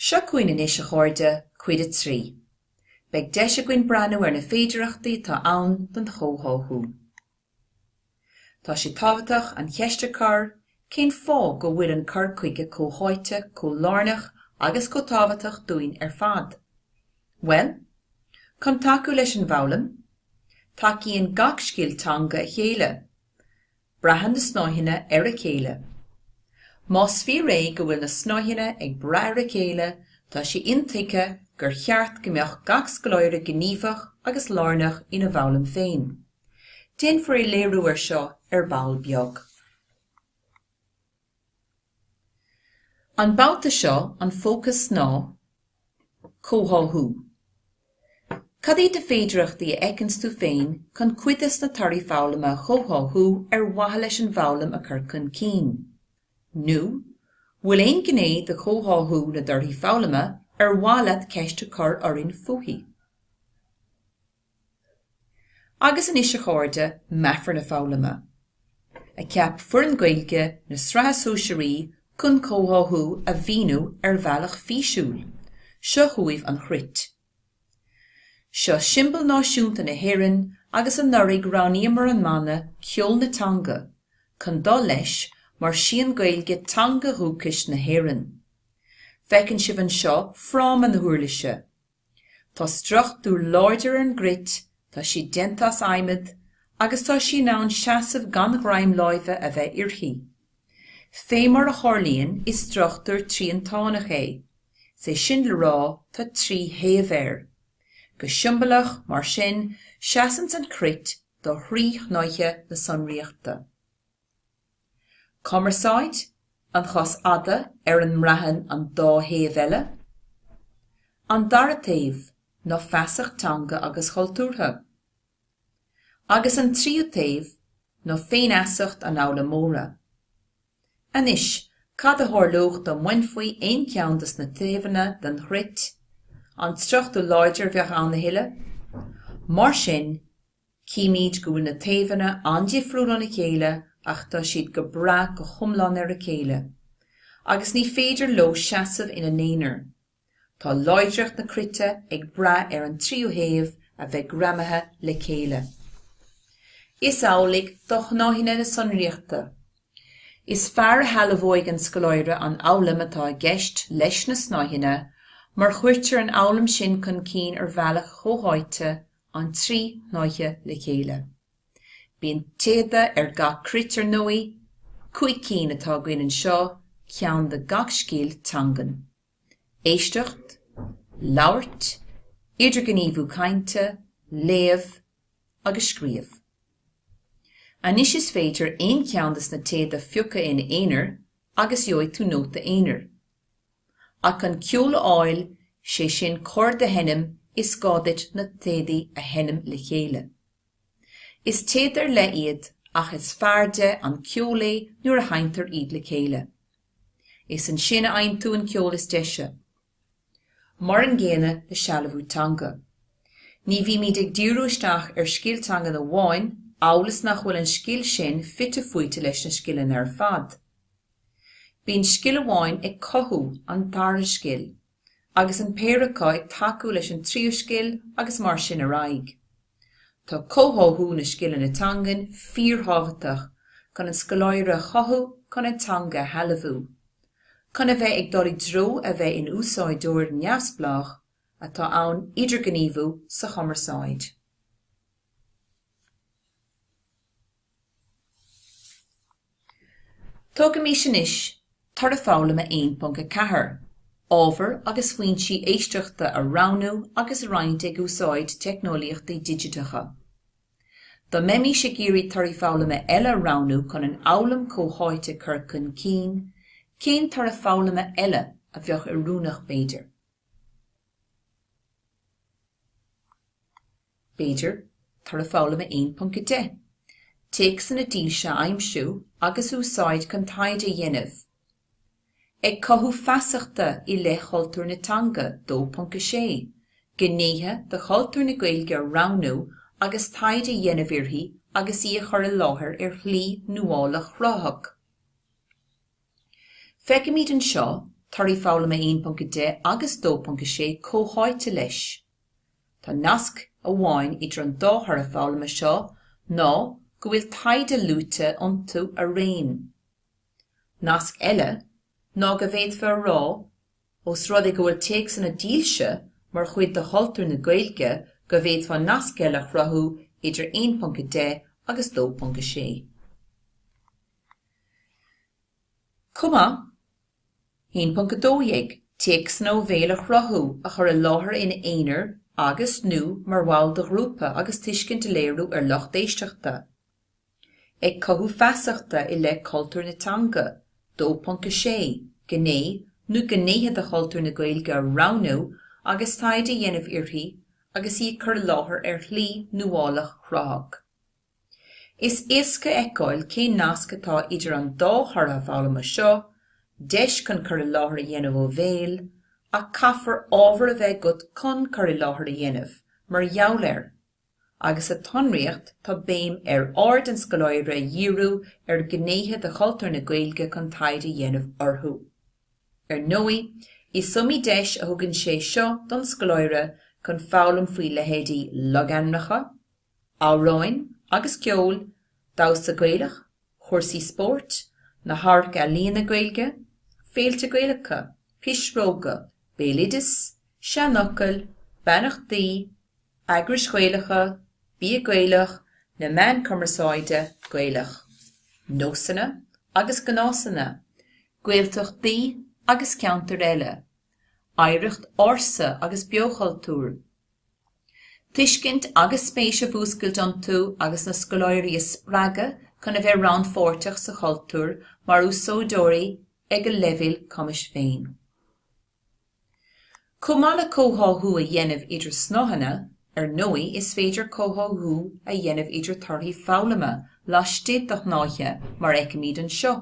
Seo chugainn anois, a chairde, cuid a trí. Beidh deis againn breathnú ar na féidireachtaí atá ann don chomhtháthú. Tá sé tábhachtach an cheist a chur, cén fáth go bhfuil an cur chuige comhtháite chomh lárnach agus chomh tábhachtach dúinn ar fad? Bhuel, chun tacú leis an bhfoghlaim, tacaíonn gach scil teanga a chéile. Braitheann na snáitheanna ar a chéile. Más fíor é go bhfuil na snáitheanna ag brath ar a chéile, tá sé intuigthe gur cheart go mbeadh gach scoláire gníomhach agus lárnach ina bhfoghlaim féin. Déanfar léiriú air seo ar ball beag. An babhta seo, an fócas ná comhtháthú. Cad iad na féidearthachtaí a fheiceanns tú féin chun cuid des na torthaí foghlama a chomhtháthú ar mhaithe leis an bhfoghlaim a chur chun cinn? Nó an bhfuil aon ghné de chomhtháthú na dtorthaí foghlama ar mhaith leat ceist a chur orainn fúithi? Agus anois, a chairde, meafar na foghlama, a cheap foireann Gaeilge na Sraithe Sóisearaí chun comhtháthú a mhíniú ar bhealach físiúil. Seo chugaibh an chruit. Seo siombail náisiúnta na hÉireann agus anuraidh roghnaíomar an mana 'Ceol na Teanga' chun dul leis mar sí an Ghaeilge teanga dhúchais na hÉireann. Feiceann sibh anseo fráma na huirlise. Tá struchtúr láidir ar an gcruit, tá sí déanta as adhmad agus tá sí in ann seasamh gan ghreim láimhe a bheith uirthi. Fé mar a tharlaíonn, is struchtúr triantánach é, sé sin le rá, tá trí thaobh air. Go siombalach, mar sin, seasann an chruit do thrí shnáithe na sonraíochta. Cumarsáid, an chos fhada ar a mbraitheann an dá thaobh eile. An dara taobh ná feasacht teanga agus chultúrtha. Agus an tríú taobh ná féinfheasacht an fhoghlaimeora. Anois, cad a tharlódh dá mbainfí aon cheann des na taobhanna den chruit? An struchtúr láidir a bheadh ann a thuilleadh? Mar sin, Chímid go bhfuil na taobhanna an-difriúil óna chéile ach tá siad ag brath go hiomlán ar a chéile agus ní féidir leo seasamh ina n-aonar. Tá láidreacht na cruite ag brath ar an trí thaobh a bheith greamaithe le chéile. Is amhlaidh do shnáitheanna na sonraíochta. Is fearr a shealbhóidh an scoláire an fhoghlaim atá i gceist leis na snáitheanna má chuirtear an fhoghlaim sin chun cinn ar bhealach chomhtháite an trí shnáithe le chéile. Bíonn téada ar gach cruit ar ndóigh, cúig cinn atá againn anseo, ceann do gach scil teangan. Éisteacht, labhairt, idirghníomhú cainte, léamh agus scríobh. Anois is féidir aon cheann de na téada a phiocadh ina aonar agus gheobhaidh tú nóta aonair. Ach chun ceol a fháil, sé sin corda a sheinm is gá duit na téadaí a sheinm le chéile. Is téad ar leith iad ach is fearrde an ceol é nuair a sheinntear iad le chéile. Is ansin a fhaigheann tú an ceol is deise. Mar an gcéanna le sealbhú teanga. Ní bhímid ag díriú isteach ar scil teangan amháin amhail is nach bhfuil an scil sin fite fuaite leis na scileanna ar fad. Bíonn scil amháin ag cothú an dara scil, agus an péire acu ag tacú leis an tríú scil agus mar sin ar aghaidh. Tá comhtháthú na scileanna teangan fíorthábhachtach chun an scoláire a chothú chun an teanga a shealbhú, chun a bheith ag dul i dtreo a bheith in úsáideoir neamhspleách atá in ann idirghníomhú sa chumarsáid. Tógaimis anois toradh foghlama 1.4, ábhar agus foinsí éisteachta a roghnú agus a roinnt ag úsáid teicneolaíochtaí digiteacha. Dá mbeimís ag iarraidh torthaí foghlama eile a roghnú chun an fhoghlaim chomhtháite a chur chun cinn, cén toradh foghlama eile a bheadh oiriúnach b'fhéidir? B'fhéidir, Toradh Foghlama 1.10, Téacsanna dílse a aimsiú agus a úsáid chun taighde a dhéanamh, Ag cothú feasachta i leith chultúr na teanga 2.6, Gnéithe de chultúr na Gaeilge a roghnú agus taighde a dhéanamh uirthi agus í a chur i láthair ar shlí nuálach chruthaitheach. Feicimid anseo Toradh Foghlama 1.10 agus 2.6 comhtháite leis. Tá nasc amháin idir an dá thoradh foghlama seo ná go bhfuil taighde luaite iontu araon. Nasc eile ná go bhféadfá a rá, os rud é go bhfuil téacsanna dílse mar chuid de chultúr na Gaeilge go bhféadfá nasc eile a chruthú idir 1.10 agus 2.6. Chomh maith, 1.12. Téacsanna ó bhéal a chruthú, a chur i láthair in aonair agus, nó mar bhall de ghrúpa agus tuiscint a léiriú ar lucht éisteachta, ag cothú feasachta i leith cultúr na teanga, 2.6. Gné nó gnéithe de chultúr na Gaeilge a roghnú agus taighde a dhéanamh uirthi agus í a chur i láthair ar shlí nuálach chruthach. Is éasca a fheiceáil cén nasc atá idir an dá thoradh foghlama seo, deis chun cur i láthair a dhéanamh ó bhéal, ach caithfear ábhar a bheith agat chun cur i láthair a dhéanamh mar gheall air, agus sa tsonraíocht tá béim ar aird an scoláire a dhíriú ar ghnéithe de chultúr na Gaeilge chun taighde a dhéanamh orthu. Ar ndóigh, is iomaí deis a thugann sé seo don scoláire chun foghlaim faoi leithéidí logainmneacha, amhráin agus ceol, damhsa Gaelach, cúrsaí spóirt, na hamharc-ealaíona Gaeilge, féilte Gaelacha, pisreoga, béaloideas, seanfhocail, beannachtaí, eagrais Ghaelacha, bia Gaelach, na meáin cumarsáide Gaelacha, nósanna agus gnásanna, Gaeltachtaí agus ceantair eile, oidhreacht ársa agus beochultúr, tuiscint agus spéis a mhúscailt iontu agus na scoláirí a spreagadh chun a bheith rannpháirteach sa chultúr mar úsáideoirí ag a leibhéal cumais féin. Chomh maith le comhtháthú a dhéanamh idir snáitheanna, ar ndóigh, is féidir comhtháthú a dhéanamh idir torthaí foghlama laistigh de shnáithe mar a fheicimid anseo.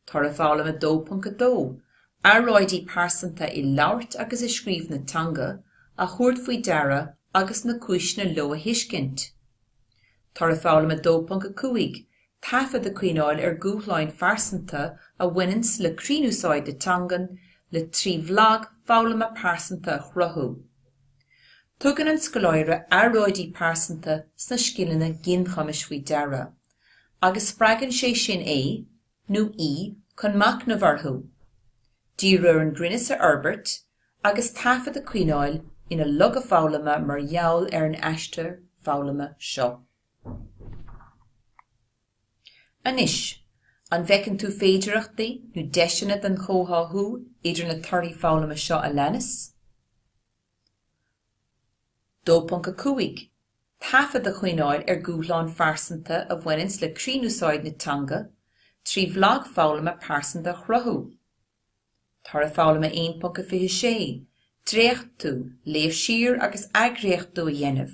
Toradh Foghlama 2.2, Earráidí pearsanta i labhairt agus i scríobh na teanga a thabhairt faoi deara agus na cúiseanna leo a thuiscint. Toradh Foghlama 2.5, Taifead a choinneáil ar dhúshláin phearsanta a bhaineanns le cruinnúsáid na teangan le trí bhlag foghlama pearsanta a chruthú. Tugann an scoláire earráidí pearsanta sna scileanna ginchumais faoi deara agus spreagann sé sin é nó í chun machnamh orthu, díriú ar an gcruinneas a fhorbairt agus taifead a choinneáil ina bhlag foghlama mar gheall ar an aistear foghlama seo. Anois, an bhfeiceann tú féidearthachtaí nó deiseanna don chomhtháthú idir na torthaí foghlama seo a leanas? 2.5. Taifead a choinneáil ar dhúshláin phearsanta a bhaineanns le cruinnúsáid na teanga, trí bhlag foghlama pearsanta a chruthú. Toradh Foghlama 1.26, Dréachtú, léamh siar agus athdhréachtú a dhéanamh.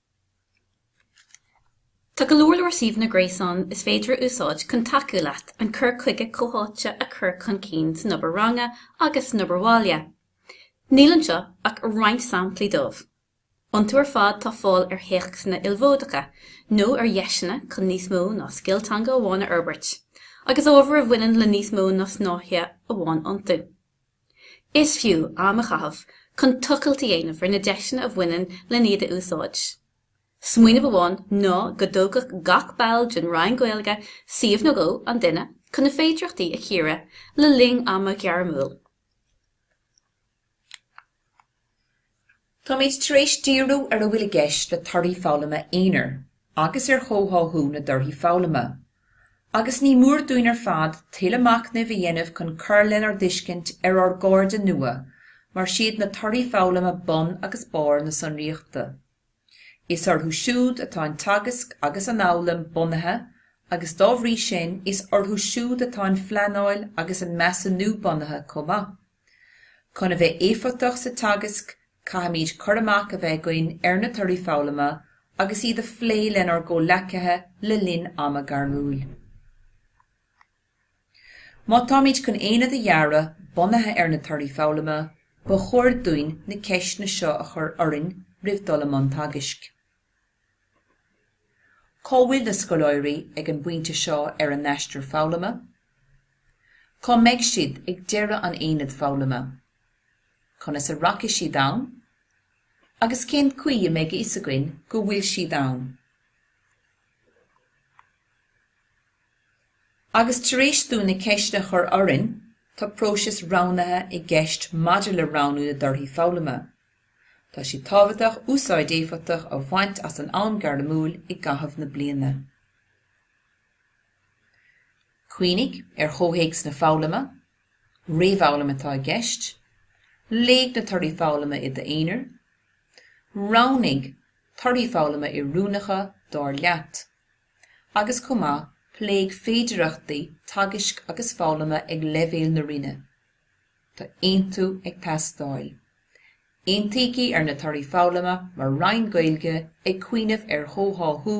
Tá go leor leor suíomhanna gréasáin is féidir a úsáid chun tacú leat an cur chuige comhtháite a chur chun cinn san obair ranga agus san obair bhaile. Níl anseo ach roinnt samplaí díobh. Iontu ar fad tá fáil ar théacsanna ilmhódacha nó ar dheiseanna chun níos mó ná scil teanga amháin a fhorbairt, agus ábhar a bhaineann le níos mó ná snáithe amháin iontu. Is fiú am a chaitheamh chun tochailt a dhéanamh ar na deiseanna a bhaineann lena iad a úsáid. Smaoineamh amháin ná go dtógfadh gach ball den Roinn Gaeilge suíomh nó dhó an duine chun na féidearthachtaí a chíoradh le linn ama ghairmiúil. Táimid tar éis díriú ar a bhfuil i gceist le torthaí foghlama aonair agus ar chomhtháthú na dtorthaí foghlama, agus ní mór dúinn ar fad tuilleadh machnaimh a dhéanamh chun cur lenár dtuiscint ar ár gcairde nua mar siad na torthaí foghlama bun agus barr na sonraíochta. Is orthu siúd atá an teagasc agus an fhoghlaim bunaithe agus dá bhrí sin is orthu siúd atá an phleanáil agus an measúnú bunaithe chomh maith. Chun a bheith éifeachtach sa teagasc, caithfimid cur amach a bheith againn ar na torthaí foghlama agus iad a phlé lenár gcomhghleacaithe le linn ama gairmiúil. Má táimid chun aonad a dhearadh bunaithe ar na torthaí foghlama, ba chóir dúinn na ceisteanna seo a chur orainn roimh dul i mbun teagaisc. Cá bhfuil na scoláirí ag an bpointe seo ar a n-aistear foghlama? Cá mbeidh siad ag deireadh an aonaid foghlama? Conas a rachaidh siad ann agus cén chaoi a mbeidh a fhios againn go bhfuil siad ann? Agus tar éis dúinn na ceisteanna a chur orainn, tá próiseas roghnaithe i gceist maidir le roghnú na dtorthaí foghlama. Tá sé tábhachtach úsáid éifeachtach a bhaint as an am gairmiúil i gcaitheamh na bliana. Cuimhnigh ar chomhthéacs na foghlama, réamhfhoghlaim atá i gceist, léigh na torthaí foghlama i d'aonar, roghnaigh torthaí foghlama oiriúnacha dár leat, agus chomh maith pléigh féidearthachtaí teagaisc agus foghlama ag leibhéal na roinne. Tá aontú ag teastáil. Aontaígí ar na torthaí foghlama mar Roinn Gaeilge ag cuimhneamh ar chomhtháthú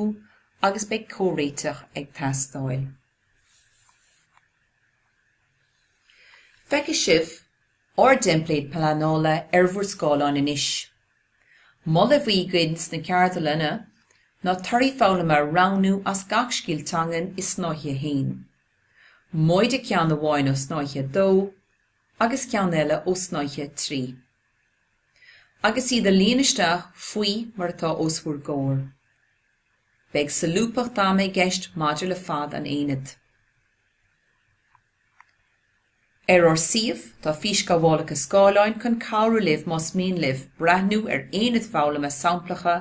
agus beidh comhréiteach ag teastáil. Feicfidh sibh ár dteimpléad pleanála ar bhur scáileáin anois. Moladh a bhí againn sna ceardlanna ná torthaí foghlama a roghnú as gach scil teangan i snáithe 1. móide ceann amháin ó shnáithe 2 agus ceann eile ó shnáithe 3, agus iad a líonadh isteach faoi mar atá os bhur gcomhair. Beidh solúbthacht ama i gceist maidir le fad an aonaid. Ar ár suíomh tá físghabhálacha scáileáin chun cabhrú libh más mian libh breathnú ar aonaid foghlama samplacha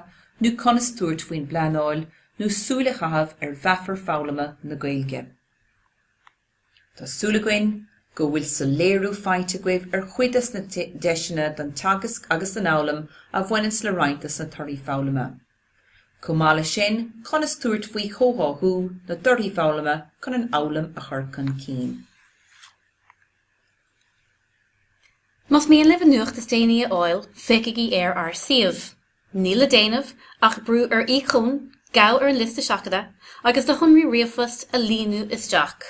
nó conas tabhairt faoin bpleanáil nó súil a chaitheamh ar mheafair foghlama na Gaeilge. Tá súil againn go bhfuil soiléiriú faighte agaibh ar chuid des na deiseanna don teagasc agus don fhoghlaim a bhaineann le roinnt des na torthaí foghlama. Chomh maith leis sin, conas tabhairt faoi chomhtháthú na dtorthaí foghlama chun an fhoghlaim a chur chun cinn. Más mian libh an nuacht is déanaí a fháil, feicigí ar ár suíomh. Níl le déanamh ach brú ar íocón, gabh ar an liosta seachadta, agus do shonraí ríomhphoist a líonadh isteach.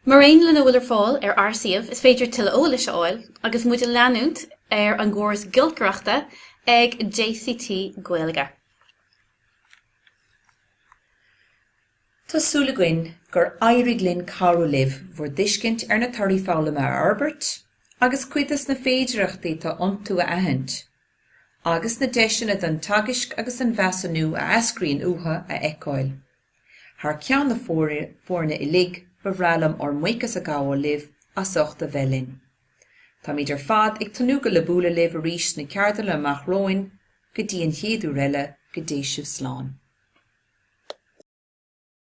Mar aon lena bhfuil ar fáil ar ár suíomh, is féidir tuilleadh eolais a fháil agus muid a leanúint ar an gcóras giolcaireachta ag jct Gaeilge. Tá súil againn gur éirigh linn cabhrú libh bhur dtuiscint ar na torthaí foghlama a fhorbairt agus cuid des na féidearthachtaí atá iontu a aithint, agus na deiseanna don teagasc agus don mheasúnú a eascraíonn uathu a fheiceáil. Thar ceann na foirne uilig, ba bhreá liom ár mbuíochas a ghabháil libh as ucht a bheith linn. Táimid ar fad ag tnúth le bualadh libh arís sna ceardlanna amach romhainn. Go dtí an chéad uair eile, go dté sibh slán.